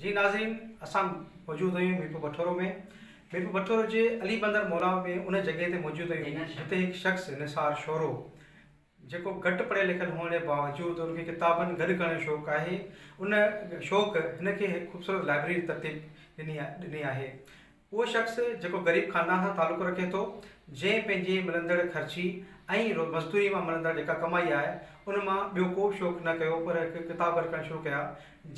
جي ناظرين اسان موجود آهيون ميرپور بٺورو ۾ ميرپور بٺورو جي علي بندر مولا ۾ ان جڳهه تي موجود آهيون جتي هڪ شخص نثار شورو جيڪو گهٽ پڙهيل لکيل هئڻ جي باوجود ان کي ڪتابن گڏ ڪرڻ جو شوق آهي ان شوق هن کي هڪ خوبصورت لائبريري ترتيب ڏني ڏني آهي اهو شخص جيڪو غريب خاندان سان تعلق رکي ٿو، جنهن پنهنجي ملندڙ خرچي ۽ مزدوري مان ملندڙ جيڪا ڪمائي آهي، ان مان ٻيو ڪو شوق نه ڪيو پر هڪ ڪتاب گڏ ڪرڻ شروع ڪيا،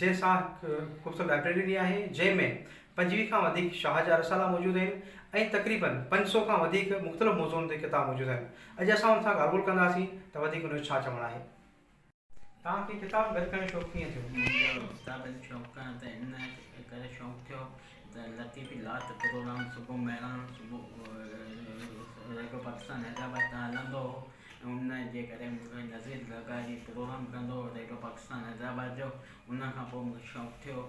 جنهن سان هڪ خوبصورت لائبريري ڏني آهي، جنهن ۾ پنجويهه کان وڌيڪ شاهه جا رسالا موجود آهن ۽ تقريبن پنج سؤ کان وڌيڪ مختلف موضوعن تي ڪتاب موجود آهن. اڄ اسان ان سان ڳالهه ٻولهه ڪنداسين ته وڌيڪ ان جو ڇا چوڻ آهي. توهان کي ڪتاب گڏ ڪرڻ جو شوق ڪيئن ٿيو؟ منهنجو ڪتابن جو شوق ڪرڻ ته ان ڪري شوق ٿيو ته لطيف الاهي ته پروگرام صبح مهراڻ صبح ريڊيو پاڪستان حيدرآباد تان هلندو هو ۽ ان جي ڪري مونکي نظير زرداري پروگرام ڪندو هو ريڊيو پاڪستان حيدرآباد جو ان کان پوء مونکي شوق ٿيو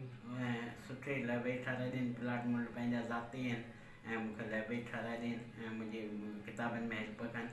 ۽ سٺي لئبرري ٺهرائي ڏين، پلاٽ ملٽ پنهنجا ذاتي آهن ۽ مون کي لئبرري ٺهرائي ڏين ۽ منهنجي ڪتابن ۾ هيلپ ڪن.